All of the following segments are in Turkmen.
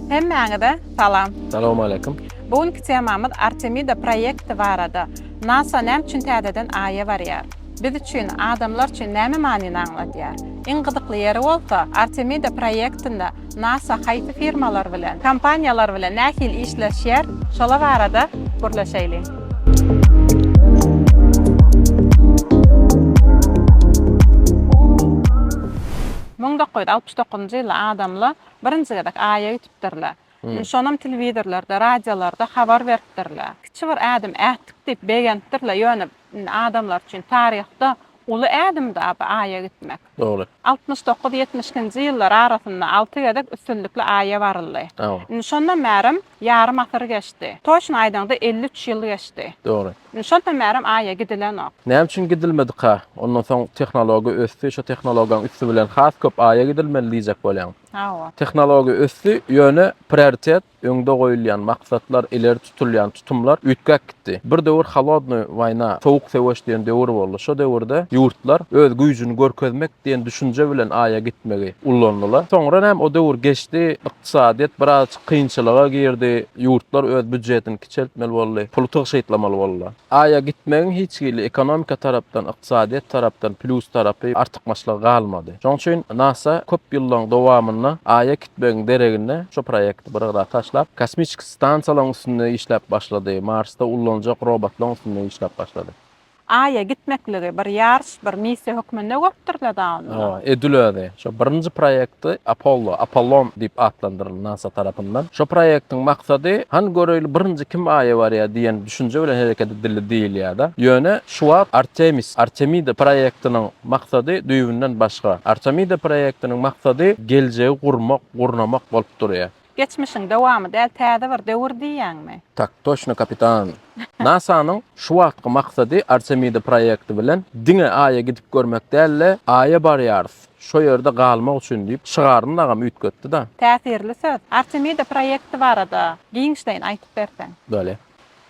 Hemmäňize salam. Salowmaleýkim. Bu günki temamyz Artemida proýekti barada. Nasa näme üçin täzeden Aýa barýar? Biz üçin, adamlar üçin näme manyny aňladýar? Iň gyzykly ýeri bolsa, Artemida proýektinde Nasa haýsy firmalar bilen, kompaniýalar bilen nähili işleşýär, şolar barada gürleşeýliň. Müň dokuz ýüz altmyş dokuzynjy ýylda adamlar Birinji gezek Aýa gitipdirler. Indi şonam telewizorlarda, radiolarda habar beripdirler. Kiçi bir ädim ätdik diýip begenipdirler. Ýöne indi adamlar üçin taryhda uly ädimdi bu Aýa gitmek. Dogry. Altmyş dokuz, ýetmiş ikinji ýyllar arasynda alty gezek üstünlikli Aýa baryldy. Indi şondan bärim Ýarym asyr geçdi. Toçny aýdaňda elli üç ýyl geçdi. Dogry. Indi şondan bärem Aýa gidilenok. Näme üçin gidilmedika? Ondan soň tehnologiýa ösdi, şo tehnologiýanyň üsti bilen has köp Aýa gidilmeli diýjek bolýaň. Hawa. Tehnologiýa ösdi, ýöne prioritet, öňde goýulýan maksatlar, ileri tutulýan tutumlar üýtgäp gitdi. Bir döwür Holodnoý woýna, sowuk söweş diýen döwür boldy. Şo döwürde ýurtlar öz güýjüni görkezmek diýen düşünje bilen Aýa gitmegi ullandylar. Soňra näme, o döwür geçdi, ykdysadyýet biraz Kynçylyga girdi, ýurtlar öz býudjetini kiçeltmeli boldy, puly tygşytlamaly boldular. Aýa gitmegiň hiç hili ekonomika tarapdan, ykdysadyýet tarapdan plýus tarapy, artykmaçlygy galmady. Şoň üçin nasa köp ýyllaryň dowamynda Aýa gitmegiň deregine şu proýekti bir gyra taşlap, kosmiçki stansiýalaryň üstünde işläp başlady, Marsda ullanjak robotlaryň üstünde işläp başlady. Aýa gitmekligi bir ýaryş, bir missiýa hökmünde görüpdirler da onda. Hawa, edil özi. Şo birinji proýekti Apollo, Apollon diýip atlandyryldy nasa tarapyndan. Şo proýektiň maksady, hany göreýli birinji kim Aýa barýar diýen düşünje bilen hereket edildi diýilýär-de. Ýöne şu wagt Artemis, Artemida proýektiniň maksady düýbünden başga. Artemida proýektiniň maksady geljegi gurmak, gurnamak bolup durýar. Geçmişiň dowamy däl täze bir döwür diýýäňmi? Tak toşno kapitan. NASA-nyň şu wagtky maksady Artemida proýekti bilen diňe Aýa gidip görmek däl-de, Aýa barýarys, şo ýerde galmak üçin diýip şygaryny dagam üýtgetdi-da. Täsirli söz. Artemida proýekti barada giňişleýin aýtyp berseň. Böle.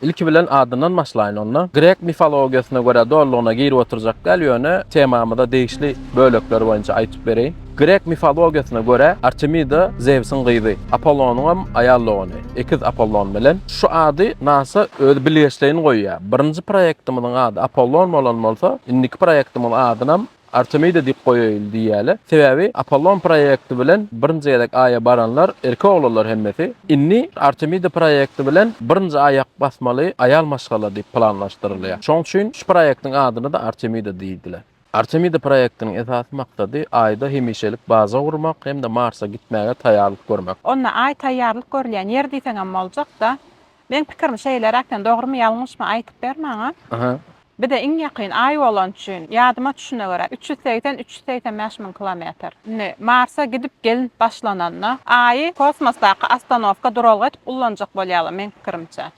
Ilki bilen adyndan başlaýyn onda. Grek mifologiýasyna görä dolulygyna girip oturjak däl, ýöne temamyza degişli bölekleri boýunça aýtyp bereýin. Grek mifologiýasyna görä Artemida Zewsiň gyzy, Apollonyňam aýal dogany, ekiz Apollon bilen. Şu ady nasa özi bilgeşleýin goýýar. Birinji proýektimiziň ady Apollon bolan bolsa, indiki proýektimiz adynam Artemida diýip goýaýyl diýýäle. Sebäbi Apollon proýekti bilen birinji gezek Aýa baranlar erkek oglanlar hemmesi. Indi Artemida proýekti bilen birinji aýak basmaly aýal maşgala diýip planlaşdyrylýar. Şoň üçin şu proýektiň adyna-da Artemida diýdiler. Artemida proýektiniň esasy maksady Aýda hemişelik baza gurmak hem-de Marsa gitmäge taýýarlyk görmek. Onda Aý taýýarlyk görülýän ýer diýseňem boljak-da. Meň pikirim şeýleräk sen dogrymy ýalňyşmy aýtyp ber maňa. Bize iň ýakyn aý bolany üçin ýadyma düşüne görä üç ýüz segsen üç ýüz segsen bäş müň kilometr. Indi marsa gidip gelnip başlananda aýy kosmosdaky ostanowka duralga edip ullanjak bolýarlar meň pikirimçe.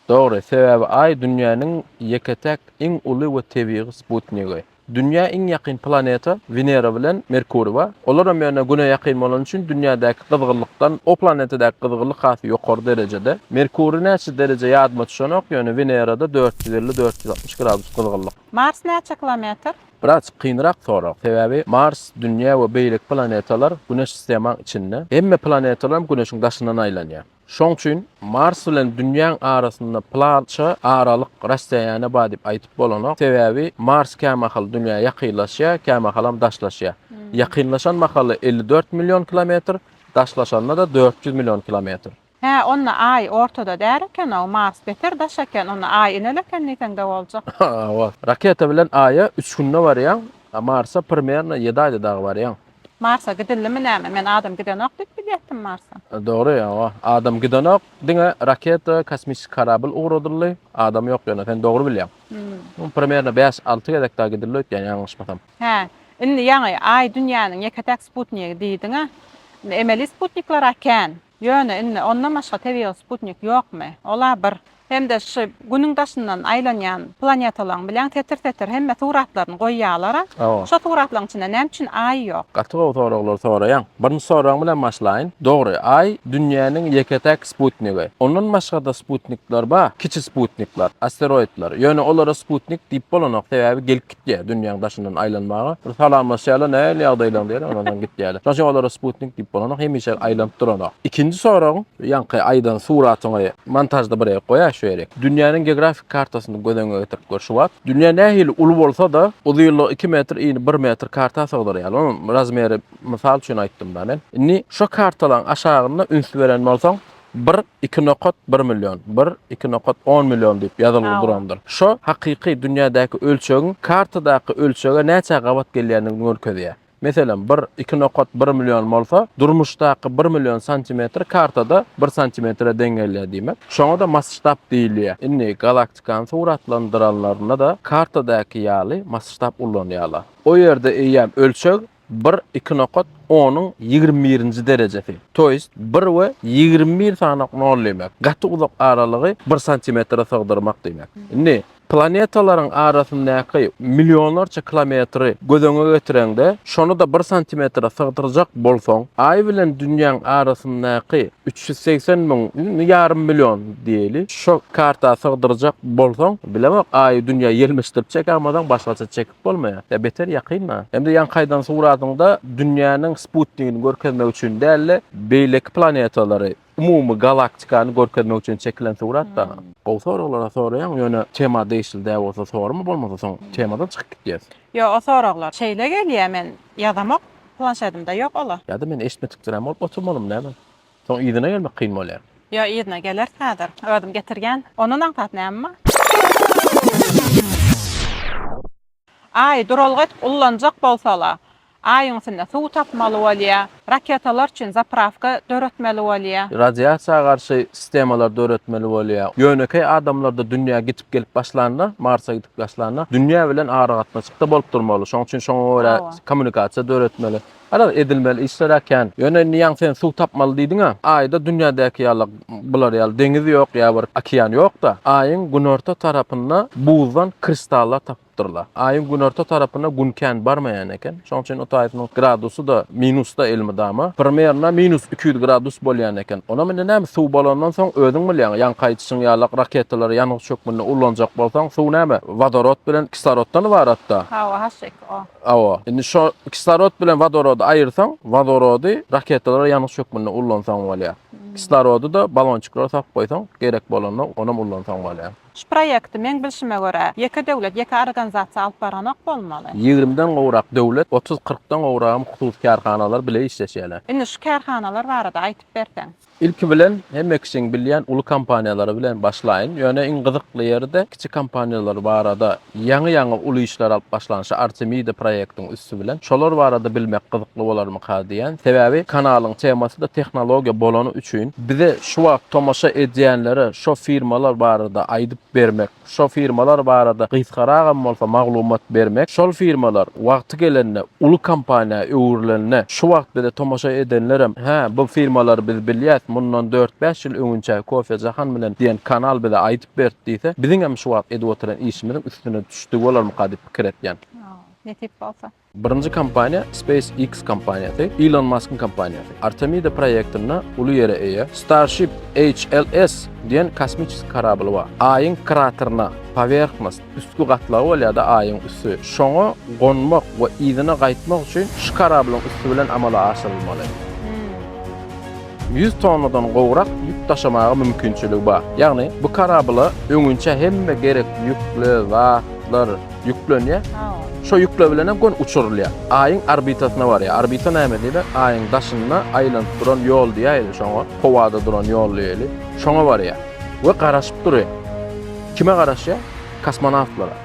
Dogry, sebäbi aý dünýäniň ýeke täk iň uly we tebigy sputnigi. Dünýä iň ýakyn planeta Wenera bilen Merkuriý bar. Olaram ýöne Güne ýakyn bolany üçin Dünýädäki gyzgynlykdan o planetadäki gyzgynlyk has ýokary derejede. Merkuriý näçe dereje ýadyma düşenok, ýöne Wenerada dört ýüz elli, dört ýüz altmyş gradus gyzgynlyk. Mars näçe kilometr? Biraz kynrak sorag, sebäbi Mars, Dünýä we beýleki planetalar Güneş sistemaň içinde. Hemme planetalaram Güneşiň daşyndan aýlanýar. Şoň üçin Mars bilen Dünýäň arasynda plança aralyk, rasstoýaniýe bar diýip aýdyp bolanok. Sebäbi Mars kämahal Dünýä ýakynlaşýar, kämahalam daşlaşýar. Ýakynlaşan mahaly elli dört million kilometr, daşlaşanda-da dört ýüz million kilometr. Hä, onda Aý ortada däl eken-ow, Mars beter daş eken, onda Aý inel eken diýseň-de boljak. Hawa. Raketa bilen Aýa üç günde barýaň, a Marsa primerno ýedi aýda dagy barýaň. Marsa gidildimi näme men adam gidenok diýip bilýätdim marsa. Dogry ýoga adam gidenok diňe raketa kosmisik karabl ugradyldy adam ýok ýöne sen dogry bilýäň hmm. primerno bäş alty gezek da gidildi öýtýän ýalňyşmasam. Hä indi ýaňy aý dünýäniň ýeketäk sputnigi diýdiňä emeli sputniklara kän. Ýöne indi ondan başga tebigy sputnik ýokmy ola bir hem-de şu Günüň daşyndan aýlanýan planetalaryň bileň setir-setir hemme suratlaryny goýýalar-a. Hawa. Şo suratlaryň içinde näme üçin Aý ýok? Gaty gowy soraglar soraýaň. Birinji soragyň bilen başlaýyn. Dogry, Aý Dünýäniň ýeke-täk sputnigi. Ondan başga-da sputnikler bar, kiçi sputnikler, asteroidler. Ýöne olara sputnik diýip bolanok, sebäbi gelip Diýýär, dünýäň daşyndan aýlanmaga bir salamlaşýarlar, nähili ýagdaýlaň diýýärler, ondan soň gitýärler. Şonuň üçin olara sputnik diýip bolanok, hemişe aýlanyp duranok. Ikinji soragyň, ýaňky aýdan suratyňy montažda bir ýere goýaý şu ýeri. Dünýäniň geografik kartasyny göz öňüňe getirip gör şu wagt. Dünýä nähili uly bolsa-da, uzynlygy iki metr, ini bir metr karta sygdyrýar. Onuň razmeri mysal üçin aýtdym-da men. Indi şo kartalaryň aşagynda üns beren bolsaň, Bir, iki nokat bir million, bir, iki nokat on million diýip ýazylgy durandyr. Şo hakyky dünýädäki ölçegiň kartadaky ölçege näçä gabat gelýändigini görkezýär. Meselem, bir, iki nokat bir million bolsa, durmuşdaky bir million santimetr kartada bir santimetre deň gelýär diýmek. Şoňa-da masştab diýilýär. Indi galaktikany suratlandyranlarynda-da kartadaky ýaly masştab ullanýarlar. O ýerde eýýäm ölçeg Bir, iki nokat, onuň ýigrimi birinji derejesi, to ýest bir we ýigrimi bir sanak nol diýmek, gaty uzak aralygy bir santimetre sygdyrmak diýmek. Indi, planetalaryň arasyndaky millionlarça kilometri göz öňe getireňde, şony-da bir santimetre sygdyrjak bolsaň, Aý bilen Dünýäň arasyndaky üç ýüz segsen müň, indi ýarym million diýeli, şo karta sygdyrjak bolsaň, bilemok, Aýy Dünýä ýelmeşdirip çekemizem, başgaça çekip. Bolmaýar. Ýa beter ýakynma. Hem-de ýaňkaýdan suradyňda dünýäniň sputnigini görkezmek üçin däl-de, beýleki planetalary, umumy galaktikany görkezmek üçin çekilen surat-da. Gowy soraglar-a soraýaň, ýöne tema degişli däl bolsa sorama, bolmasa soň temadan çykyp gitýäs. Ýo, o soraglar şeýle gelýä, men ýazamok, planşedimde ýok ol-a. Ýa-da men eşitmedikdirem bolup oturmalym näme? Soň yzyna gelmek kyn bolýar. Ýok yzyna geler häzir özüm getirgen ondan aňsat näme bar. Aý duralga edip ullanjak bolsala aýyň üstünde suw tapmaly bolýa, raketalar üçin zaprawka döretmeli bolýa. Radiasiýa garşy sistemalar döretmeli bolýa. Ýönekeý adamlarda dünýä gitip gelip başlanda marsa gidip başlanda dünýä bilen aragatnaşykda bolup durmaly şoň üçin şoňa görä kommunikasiýa döretmeli. Garaz, edilmeli işler-ä kän. Ýöne indi ýaňy sen suw tapmaly diýdiň-ä. Aýda dünýädäki ýaly, bular ýaly deňiz ýok, ýa bir okean ýok-da. Aýyň günorta tarapynda buzdan kristallar tapypdyrlar. Aýyň günorta tarapyna Gün kän barmaýan eken. Şonuň üçin otaýysynyň gradusy-da minusda elmydama. Primerno minus iki ýüz gradus bolýan eken. Onam indi näme, suw bolandan soň özüň bilýäň, ýaňky aýdyşyň ýalak raketalary ýangyç hökmünde ullanjak bolsaň, suw näme, wodorod bilen kisloroddan ybarat-da. Hawa, haşşyk. Hawa. Indi şo kislorod bilen wodorody aýyrsaň, wodorody raketalara ýanyş hökmünde ullansaň bolýar. Kislorody-da balonçyklara salyp goýsaň, gerek bolanda onam ullansaň bolýar. Şu proýekti, meň bilşime görä, ýeke döwlet, ýeke organzasiýa alyp baranok bolmaly? Ýigrimi den gowrak döwlet, otuz-kyrk dan gowragam hususy kärhanalar bile işleşýärler. Indi şu kärhanalar barada aýtyp berseň? Ilki bilen hemme kişiň bilýän uly kompaniýalary bilen başlaýyn, ýöne iň gyzykly ýeri-de kiçi kompaniýalar barada ýaňy-ýaňy uly işler alyp başlanşy Artemida proýektiň üsti bilen şolar barada bilmek gyzykly bolarmyka diýýän, sebäbi kanalyň temasy-da tehnologiýa bolany üçin bize şu wagt tomaşa edýänlere şo firmalar barada aýdyp bermek Şo firmalar barada gysgaragam bolsa maglumat bermek, şol firmalar wagty gelende uly kompaniýa öwrülende, şu wagt bize tomaşa edenlerem, hä, bu firmalary biz bilýäs, mundan dört-bäş ýyl öňünçäki Kofe Jahan bilen diýen kanal bize aýdyp berdi diýse, biziňem şu wagt edip oturan işimiziň üstüne düşdügi bolarmyka diýip pikir etýän. Ýa, nesip bolsa. Birinji kompaniýa SpaceX kompaniýasy, Ilon Maskyň kompaniýasy. Artemida proýektinde uly ýere eýe Starship HLS diýen kosmiçeski korabl bar. Aýyň krateryna, powernhnost, üstki gatlagy bolýar-da Aýyň üsti. Şoňa gonmak we yzyna gaýtmak üçin şu korablyň üsti bilen amala aşyrylmaly. 100 tonnadan gowrak ýük daşamaga mümkinçiligi bar. Ýagny bu karabla öňinçä hemme gerek ýükle zatlar ýüklenýär. Şo ýükle bilen hem gon uçurylýar. Aýyň orbitasyna barýar. Orbita näme diýle? Aýyň daşynda aýlanyp duran ýol diýäýeli şoňa. Howada duran ýol diýeli. Şoňa barýar. We garaşyp durýar. Kime garaşýar? Kosmonawtlara.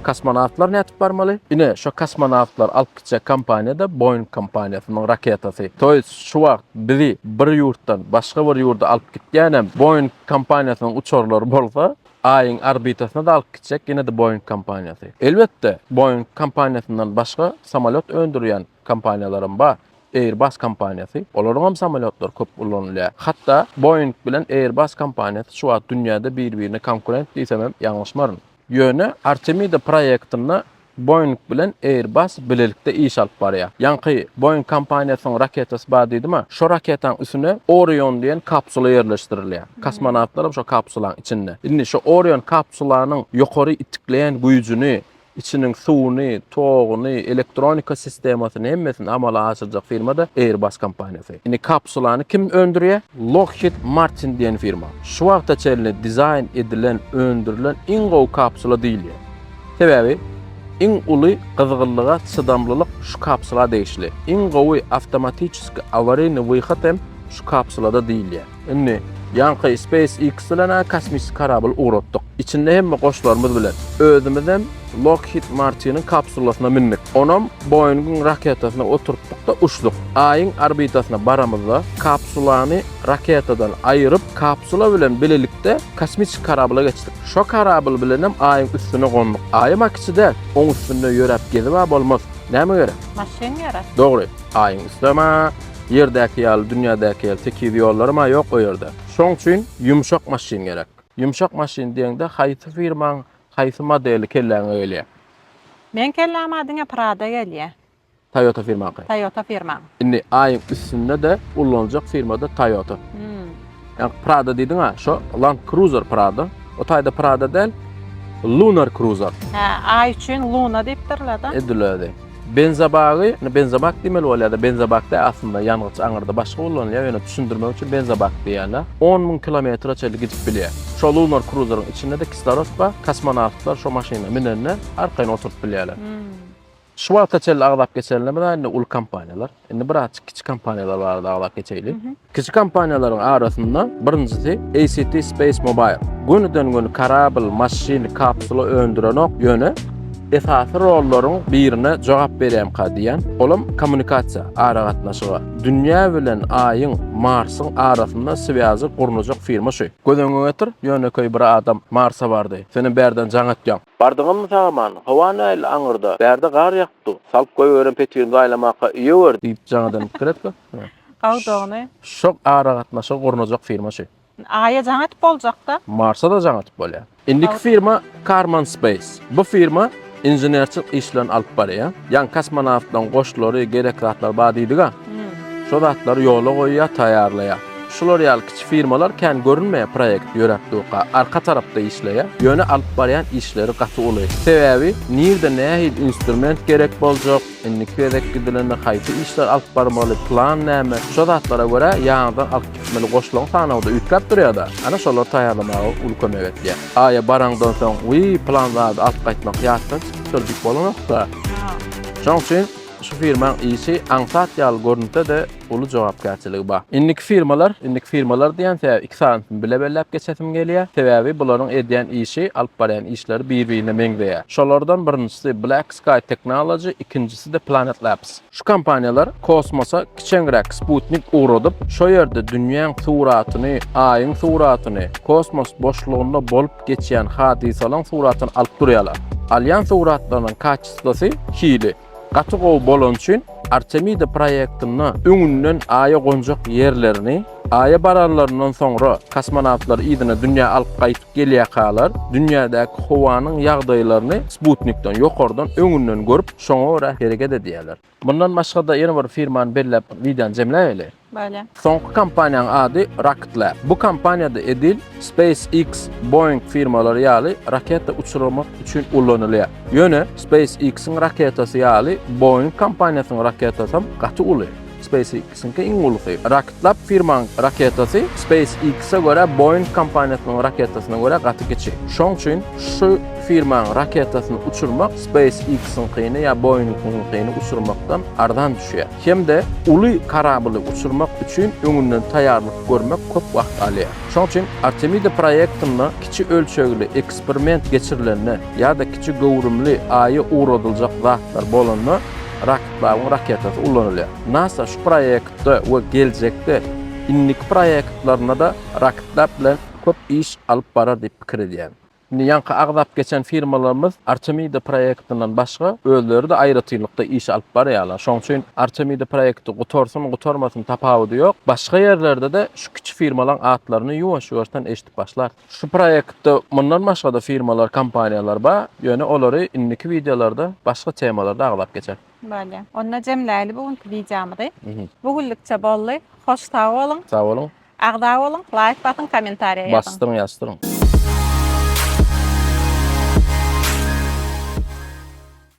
Kosmonawtlar nädip barmaly? Ine, şo kosmonawtlar alyp Kiçek kompaniýada Boeing kompaniýasynyň raketasy. Toýs şu wagt bizi bir ýurtdan başga bir ýurda alyp gitýänem Boeing kompaniýasynyň uçarlary bolsa, Aýyň orbitasyna-da alyp gitjek ýene-de Boeing kompaniýasy. Elbetde, Boeing kompaniýasyndan başga samolýot öndürýän kompaniýalaram bar. Airbus kompaniýasy, olaryňam samolýotlary köp ulanylýar. Hatda Boeing bilen Airbus kompaniýasy şu wagt dünýäde bir-birine konkurent diýsemem ýalňyşmaryn. Ýöne Artemida proýektinde Boeing bilen Airbus bilelikde iş alyp barýar. Ýaňky Boeing kompaniýasynyň raketasy bar diýdim-ä, şo raketaň üstüne Orion diýen kapsula ýerleşdirilýär. Kosmonawtlaram şo kapsulaň içinde. Indi şo Orion kapsulanyň ýokary itikleýän güýjüni, içiniň suwuny, toguny, elektronika sistemasyny hemmesini amala aşyrjak firma-da Airbus kompaniýasy. Indi kapsulany kim öndürýär? Lockheed Martin diýen firma. Şu wagta çenli dizaýn edilen, öndürilen iň gowy kapsula diýilýär. Sebäbi iň uly gyzgynlyga çydamlylyk şu kapsula degişli. Iň gowy awtomatiçeski awariýny wyhod hem şu kapsulada diýilýär. Indi ýaňky SpaceX bilen-ä kosmiki korabl ugratdyk. Içinde hemme goşlarymyz bilen. Özümizem Lockheed Martiniň kapsulasyna mündik. Onam Boeing-iň raketasyna oturtdyk-da uçduk. Aýyň orbitasyna baramyzda, kapsulany raketadan aýyryp, kapsula bilen bilelikde kosmiki korabla geçdik. Şo korabl bilenem Aýyň üstüne gonduk. Aýam-a kiçi däl, oň üstünde ýöräp gezib-ä bolmaz. Näme gerek? Maşyn gerek. Dogry. Aýyň üstem-ä Ýerdäki ýaly, dünýädäki ýaly tekiz ýollaram-a ýok o ýerde. Şoň üçin ýumşak maşyn gerek. Ýumşak maşyn diýeňde haýsy firmaň haýsy modeli kelläňe gelýär? Meň kelläma diňe Prado gelýä. Toyota firmaňky. Toyota firmaň. Indi aýyň üstünde-de ullanjak firmada Toyota. Ýa Prado diýdiň-a, şo Land Cruiser Prado. O taýda Prado däl, Lunar Cruiser. Hä, aý üçin Luna diýipdirler-de. Edilýärdi. Benzobagy, indi benzobak diýmeli bolýar-da, benzobak däl aslynda, ýangyç aňyrda başga ulanylýar, ýöne düşündirmek üçin benzobak diýýärler. On müň kilometre çenli gidip bilýär. Şo lunar kruzeriň içinde-de kislorod bar, kosmonawtlar şo maşyna münende arkaýyn oturyp bilýärler. Şu wagta çenli agzap geçenler, indi uly kompaniýalar. Indi bir azjyk kiçi kompaniýalar barada aglap geçeýli. Kiçi kompaniýalaryň arasynda birinjisi ACT Space Mobile. Gönüden göni karabl, maşyn, kapsula öndürenok, ýöne esasy rollaryň birine jogap berýämka diýýän, olam kommunikasiýa, aragatnaşyga. Dünýä bilen Aýyň, Marsyň arasynda swýazy gurnajak firma şu. Göz öňüňe getir, ýönekeý bir adam Marsa bardy, senem bärden jaň etýäň. Bardyňyzmy sag-aman? Howa nähili aňyrda? Bärde gar ýa. Dur, salyp goýberen petirini gaýlamaka üýe gördi. Diýip, jaňadan pikir etdi. Gowdugyny. Şok aragatnaşygy gurnajak firma şu. Aýa jaň atyp boljak-da. Marsa-da jaň atyp bolýar. Indiki firma Karman Space. Bu firma inženerçilik işlerini alyp barýar. Ýaňy kosmonawtlaryň goşlary, gerek zatlar bar diýdik-ä. Şo zatlary ýola goýýar, taýýarlaýar. Şular ýaly kiçi firmalar kän görünmeýär, proýekt ýöräp durka, arka tarapda işleýär. Ýöne alyp barýan işleri gaty uly. Sebäbi, nirde nähili instrument gerek boljak, indiki gezek gidilende haýsy işleri alyp barmaly, plan näme, şo zatlara görä ýaňydan alyp gitmeli goşlaň sanawda üýtgäp durýar-da, ana şolary taýýarlamaga uly kömek etýär. Aýa baraňdan soň, wiý, plan zady alyp gaýtmak ýatdan çykypdyr diýip bolanok-da. Şoň üçin. Şu firmaň işi aňsat ýaly görünse-de, uly jogapkärçiligi bar. Indiki firmalar, indiki firmalar diýen sebäbi iki sanysyny bile belläp geçesim gelýär. Sebäbi bularyň edýän işi, alyp barýan işleri bir-birine meňzeýär. Şolardan birinjisi Black Sky Technology, ikinjisi-de Planet Labs. Şu kompaniýalar kosmosa kiçeňräk sputnik ugradyp, şo ýerde dünýäň suratyny, Aýyň suratyny, kosmos boşlugynda bolup geçýän hadysalaň suratyny alyp durýarlar. Alýan suratlarynyň Kysgasy, hili gaty gowy bolany üçin Artemida proýektinde öňünden Aýa gonjak ýerlerini, Aýa baranlaryndan soňra kosmonawtlary yzyna dünýä alyp gaýtyp gelýäkalar, dünýädäki howanyň ýagdaýlaryny sputnikden, ýokardan, öňünden görüp, şoňa görä hereket edýäler. Mundan başga-da ýene bir firmany belläp wideony jemläýeli. Bolýa. Soňky kompaniýanyň ady Rocket Lab. Bu kompaniýada edil SpaceX, Boeing firmalary ýaly raketa uçurmak üçin ulanylýar. Ýöne SpaceX-iň raketasy ýaly Boeing kompaniýasynyň raketasam gaty uly. SpaceX. Çünki iň ulusy, Rocktlab firmaň raketasy SpaceX-e görä Boeing kompaniýasynyň raketasyna görä gaty kiçi. Şoň üçin şu firmaň raketasyny uçurmak SpaceX-iňkini ýa Boeing-iňkini uçurmakdan arzan düşýär. Hem-de uly korably uçurmak üçin öňünden taýýarlyk görmek köp wagt alýar. Şoň üçin Artemida proýektinde kiçi ölçegli eksperiment geçirilende ýa-da kiçi göwrümli Aýa ugradyljak zatlar bolanda, Babyň raketasy ulanylýar. Nasa şu proýektde we geljekde indiki proýektlerinde-de raketlar bilen köp iş alyp barar diýip pikir edýän. Indi ýaňky agzap geçen firmalarymyz Artemida proýektinden başga özleri-de aýratynlykda iş alyp barýarlar. Şonuň üçin Artemida proýekti gutarsyn, gutarmasyn tapawudy ýok. Başga ýerlerde-de şu kiçi firmalaryň atlaryny ýuwaş-ýuwaşdan eşidip başlarys. Şu proýektde mundan başga-da firmalar, kompaniýalar bar, ýöne olary indiki wideolarda başga temalarda aglap geçeris. Bolýa. Onda jemläýli bu günki wideomyzy. Bu günlükçe boldy. Hoş sag boluň. Sag boluň. Agza boluň, laýk basyň, kommentariýa ýazyň. Basdyryň, ýazdyryň.